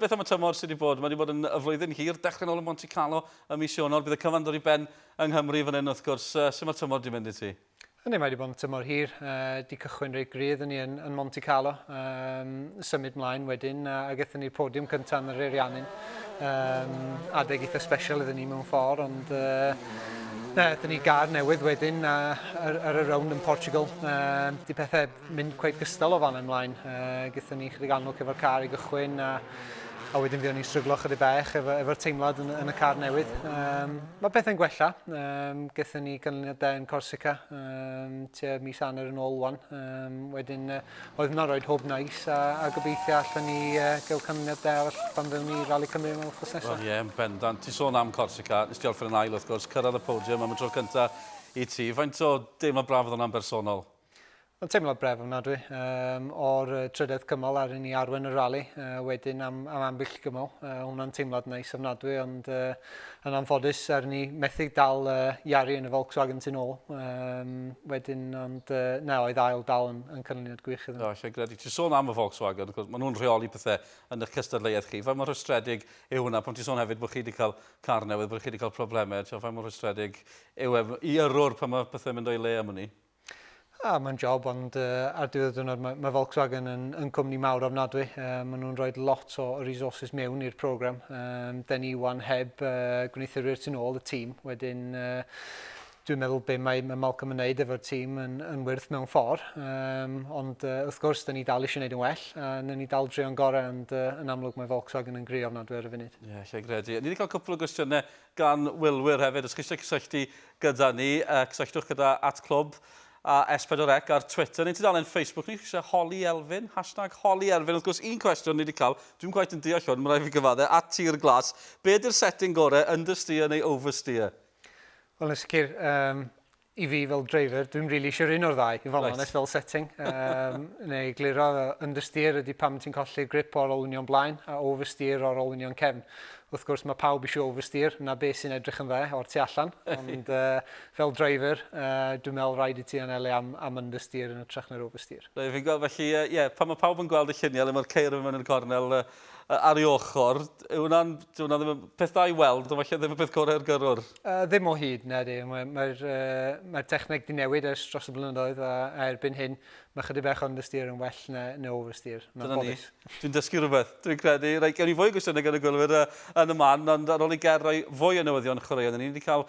Beth am y tymor sydd wedi bod? Mae wedi bod yn y flwyddyn hir, dechrau'n ôl yn Monte Carlo ym mis Ionawr, bydd y cyfan dod i ben yng Nghymru fan hyn wrth gwrs. Sut mae'r tymor wedi mynd i ti? Yndi, mae wedi bod yn tymor hir, wedi uh, cychwyn reit gryf yn ni yn, yn Monte Carlo, um, symud mlaen wedyn uh, a gyda ni'r podiwm cyntaf yn yr Eiriannin. Um, adeg eitha special iddyn ni mewn ffordd, ond uh, Dyna ni gar newydd wedyn ar, ar y rownd yn Portugal. Uh, di pethau mynd cweit gystal o fan yn mlaen. Uh, gyda ni chydig anwc efo'r car i gychwyn a, a wedyn fuon ni'n stryglo chydig bach efo'r efo teimlad yn, yn, y car newydd. Um, mae pethau'n gwella. Um, gyda ni ganlyniadau yn Corsica um, tua mis anner yn ôl wan. Um, wedyn uh, oedd yna roed hwb nais a, a gobeithio allan ni uh, gael canlyniadau arall pan fyddwn ni Rally Cymru mewn wrthos nesaf. Wel ie, yeah, bendant. Ti sôn am Corsica, nes ti orffen yn ail wrth gwrs, cyrraedd y podium am y tro cyntaf i ti. Faint o deimlo braf oedd hwnna'n bersonol? Mae'n teimlad bref ofnadwy. Um, o'r trydedd cymal ar ni arwen y rali, uh, wedyn am, am ambyll gymal. Uh, hwnna'n teimlad neis ofnadwy, ond uh, yn anffodus ar ni methu dal uh, Iari yn y Volkswagen sy'n ôl. Um, wedyn, ond uh, na, oedd ail dal yn, yn canlyniad gwych iddyn nhw. No, lle gredu. Ti'n sôn am y Volkswagen, cwrs, maen nhw'n rheoli pethau yn eich cystadleuaeth chi. Faint mor rhestredig yw hwnna? Pan ti'n sôn hefyd bod chi wedi cael car newydd, bod chi wedi cael problemau, faint mor rhestredig yw e i yrrwr pan mae pethau'n mynd o'i le am hynny? Ah, mae'n job, ond uh, ar diwedd y diwrnod mae, mae Volkswagen yn, yn cwmni mawr ofnadwy. Uh, maen nhw'n rhoi lot o resources mewn i'r program. Um, da ni wan heb uh, gwneuthurwyr tu ôl y tîm. Wedyn, uh, dwi'n meddwl be mae, mae Malcolm yn wneud efo'r tîm yn, yn wyrth mewn ffordd. Um, ond uh, wrth gwrs, da ni dal eisiau gwneud yn well, a na ni dal drio'n gorau, ond uh, yn amlwg mae Volkswagen yn gri ofnadwy ar y funud. Ie, yeah, lle gredu. Ni wedi cael cwpl o gwestiynau gan wylwyr hefyd. Os chi eisiau cysylltu gyda ni, uh, cysylltwch gyda at clwb a S4C ar Twitter neu tudalen Facebook ni. Chi eisiau holi Elfyn? Hashtag holi Elfyn. Wrth gwrs, un cwestiwn ni wedi cael, dwi'n gwaith yn deall hwn, mae'n rhaid fi gyfadde, at tir glas. Be ydy'r setting gorau, understeer neu oversteer? Wel, yn sicr, um, I fi fel driver, dwi'm rili isio un o'r ddau, i fod yn onest, fel setting. Um, neu gliro understeer ydy pam ti'n colli'r grip o'r olwynion blaen a oversteer o'r olwynion cefn. Wrth gwrs, mae pawb eisiau oversteer, na beth sy'n edrych yn dde o'r tu allan, ond uh, fel driver, uh, dwi'n meddwl rhaid i ti anelu am, am understeer yn y trach na'r oversteer. Rwy'n fi'n gweld, felly, ie, yeah, pan mae pawb yn gweld y lluniau le mae'r ceir yn mynd yn y cornel uh, ar ei ochr, yw hwnna'n, ddim yn peth da i weld, ond falle ddim y peth gorau'r gyrrwr. Yy, ddim o hyd, na di. Mae'r mae uh, mae techneg di newid ers dros y blynyddoedd a, a erbyn hyn mae chydig bach o understeer yn well na, na oversteer. Mae'n Dyna ni. boddus. Dwi'n dysgu rhywbeth, dwi'n credu. Rhaid gen i fwy o gwestiynau gan y gwylwyr yy, yn y man, ond ar ôl i Ger roi fwy o newyddion chwaraeon, dyn ni wedi cael